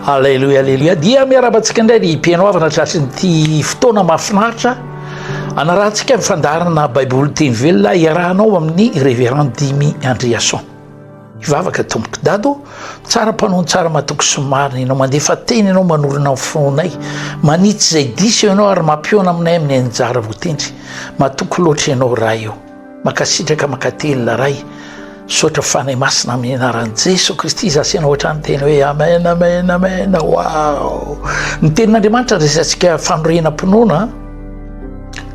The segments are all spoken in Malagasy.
Aleloia, aleloia. Dia miaraba antsika indray ny mpihaino havana trasin'ity fotoana mahafinaritra anarahantsika ny fandaharana Baiboly teny velona iarahanao amin'ny Reverend Dimy Andriason. Ivavaka tompoko dado, tsara mpanao tsara matoky sy marina ianao, mandefa teny ianao manorina fonay, manitsy izay diso ianao ary mampiona aminay amin'ny anjara votendry. Matoky loatra ianao raha eo. Makasitraka makatelina Ray misaotra Fanahy Masina amin'ny anaran'i Jeso Kristy izaho sy ianao hatrany teny hoe Amen Amen Amen wow ny tenin'Andriamanitra resatsika fanorenam-pinoana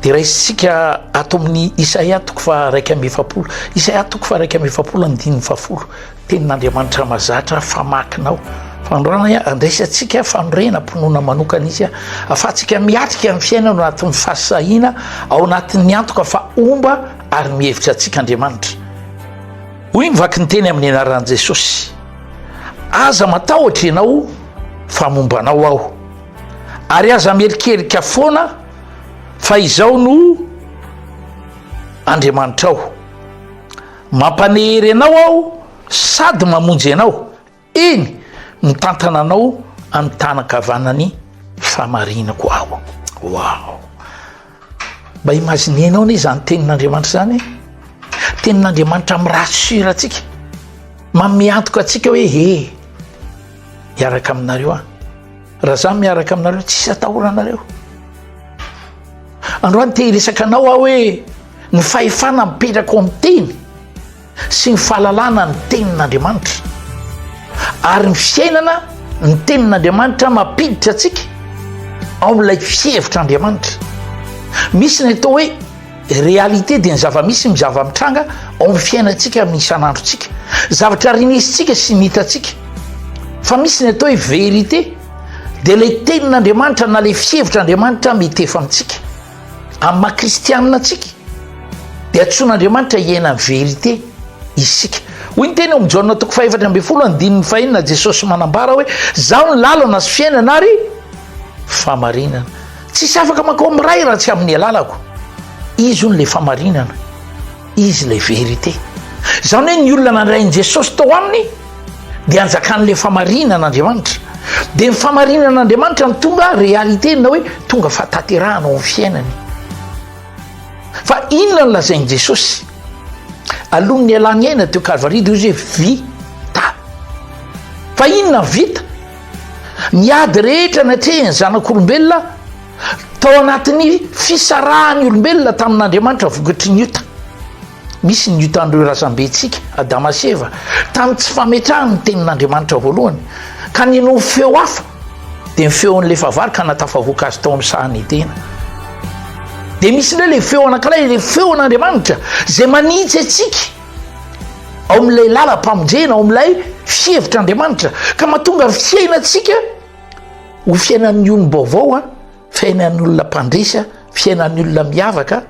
dia raisitsika ato amin'ny Isaia toko fa raika amby efapolo Isaia toko fa raika amby efapolo amin'ny diny fahafolo Tenin'Andriamanitra mazatra famakinao. Fanoranay a, andraisantsika fanorenam-pinoana manokana izy a, afahantsika miatrika ny fiainana ao anatin'ny fahasahiana, ao anatin'ny antoka fa homba ary mihevitra antsika Andriamanitra. Hoy ny vaky ny teny amin'ny anaran'i Jesosy, Aza matahotra ianao fa momba anao aho, ary aza mierikerika foana fa izaho no Andriamanitrao. Mampanehery anao aho sady mamonjy anao, eny, mitantana anao amin'ny tanan-kavanan'ny fahamarinako aho. Waouh! Mba imaginer-nao anie izany tenin'Andriamanitra izany e! Tenin'Andriamanitra mi-rassure antsika, manome antoka antsika hoe he, hiaraka aminareo aho. Raha izaho miaraka aminareo, tsy hisy atahoranareo. Androany te hiresaka anao aho hoe. Ny fahefana mipetraka ao amin'ny teny sy ny fahalalana ny tenin'Andriamanitra ary ny fiainana ny tenin'Andriamanitra mampiditra antsika ao amin'ilay fihevitr'Andriamanitra. Misy ny atao hoe réalité dia ny zava-misy ny zava-mitranga ao amin'ny fiainantsika amin'ny isan'androntsika. Zavatra rinisintsika sy ny hitantsika. Fa misy ny atao hoe vérité dia ilay tenin'Andriamanitra na ilay fihevitr'Andriamanitra mety efa amintsika. Amin'ny maha kristianina antsika dia antsoin'Andriamanitra hiaina ny verite isika. Hoy ny teny ao amin'ny Jaona toko fahefatra ambin'ny folo andininy fahenina Jesosy manambara hoe zaho ny lalana sy fiainana ary famarinana. Tsisy afaka mankao amin'ny Ray raha tsy amin'ny alalako. Izy hono ilay famarinana. Izy ilay vérité. Izany hoe ny olona nandray an'i Jesosy tao aminy dia anjakan'ilay famarinan'Andriamanitra. Dia ny famarinan'Andriamanitra no tonga réalité na hoe tonga fahatanterahana ao amin'ny fiainany. Fa inona no lazain'i Jesosy? Aloha ny ialany aina teo Kalvaria dia izy hoe vita. Fa inona vita? Ny ady rehetra natrehiny zanak'olombelona Tao anatin'ny fisarahan'ny olombelona tamin'Andriamanitra vokatry ny ota, misy ny otan'ireo razambentsika, Adama sy Eva, tamin'ny tsy fametrahany ny tenin'Andriamanitra voalohany. Ka ninoany feo hafa, dia ny feon'ilay fahavalo ka nahatafavoaka azy tao amin'ny sahan'ny Edena. Dia misy indray ilay feo anankiray, ilay feon'Andriamanitra, izay manitsy antsika ao amin'ilay lalam-pamonjena, ao amin'ilay fihevitr'Andriamanitra, ka mahatonga ny fiainantsika Ho fiainan'ny olom-baovao an, fiainan'ny olona mpandresy an, fiainan'ny olona miavaka an,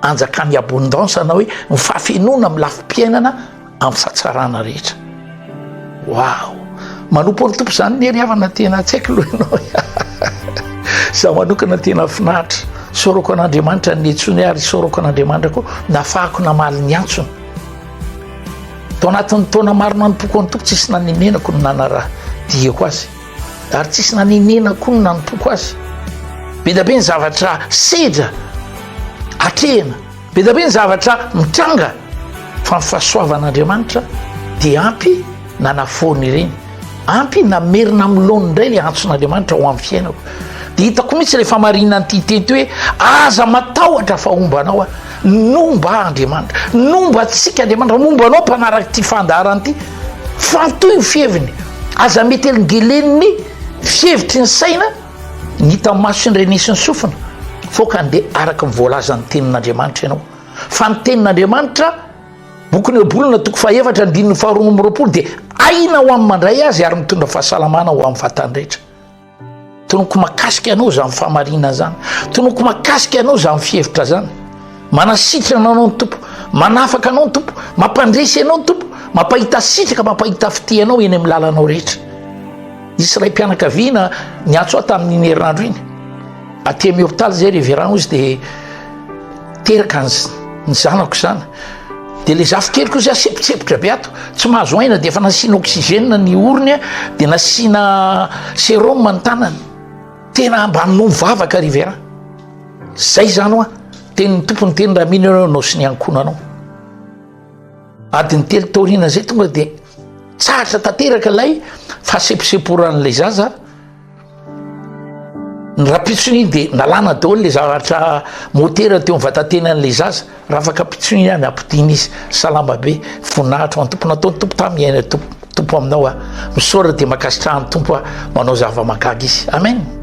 anjakan'ny abondance na hoe ny fahafenoana amin'ny lafim-piainana amin'ny fahatsarana rehetra. Waouh! Manompo an'ny Tompo izany Neri havana tena tsy haiko loha ianao. Za manokana tena finaritra. Soroko an'Andriamanitra ny netsony ary soroko an'Andriamanitra koa nafahako namaly ny antsony. Tao anatin'ny taona maro nanompoako an'ny Tompo tsisy nanemenako ny nanara diako azy. Ary tsisy nanenena koa ny nanompoako azy. Bedabe ny zavatra sedra atrehina, bedabe ny zavatra mitranga, fa ny fahasoavan'Andriamanitra dia ampy nanafoana ireny. Ampy namerina amin'ny laoniny indray ilay antson'Andriamanitra ho amin'ny fiainako. Dia hitako mihitsy ilay famarinan'ity tety hoe aza matahotra fa homba anao aho, nomba aho Andriamanitra, nomba antsika Andriamanitra, momba anao mpanaraka ity fandaharana ity. Faly toy ny fiheviny. Aza metelingelen'ny fihevitry ny saina ny hita maso sy ny rene sy ny sofina, fô ka andeha araka ny voalazan'ny tenin'Andriamanitra ianao. Fa ny tenin'Andriamanitra, bokin'i Hebrona toko fahefatra andininy faharoa amby roapolo dia aina ho an'ny mandray azy ary mitondra fahasalamana ho amin'ny vatany rehetra. Tonoko makasika anao zany famarina zany. Tonoko makasika anao zany fihevitra zany. Manasitrana anao ny Tompo, manafaka anao ny Tompo, mampandresy anao ny Tompo, mampahita sitraka, mampahita fitia anao eny amin'ny lalanao rehetra. Nisy ray mpianakaviana niantso ahy tamin'iny herinandro iny. Aty amin'ny hôpitaly zay reverend izy dia Teraka ny zanako izany dia ilay zafikeliko izay asepotsepotra be ato tsy mahazo aina dia efa nasiana oxygène ny orony dia nasiana sérum ny tanany tena mba no vavaka ry vera zay zany hoa teny ny tompony teny raha mino ianao nao sy ny ankonanao adiny telo taoriana izay tonga dia tsahatra tanteraka ilay fahaseposeporan'ilay zaza Ny rapitsony dia nalana daholo ilay zavatra motera teo amin'ny vatantenan'ilay zaza. Rafaka pitsony ihany, apodiana izy. Salama be, voninahitra ho an'ny Tompo. Nataon'ny Tompo tamin'ny aina Tompo aminao aho. Misaora dia mankasitraha ny Tompo aho. Manao zava-mahagaga izy. Amen.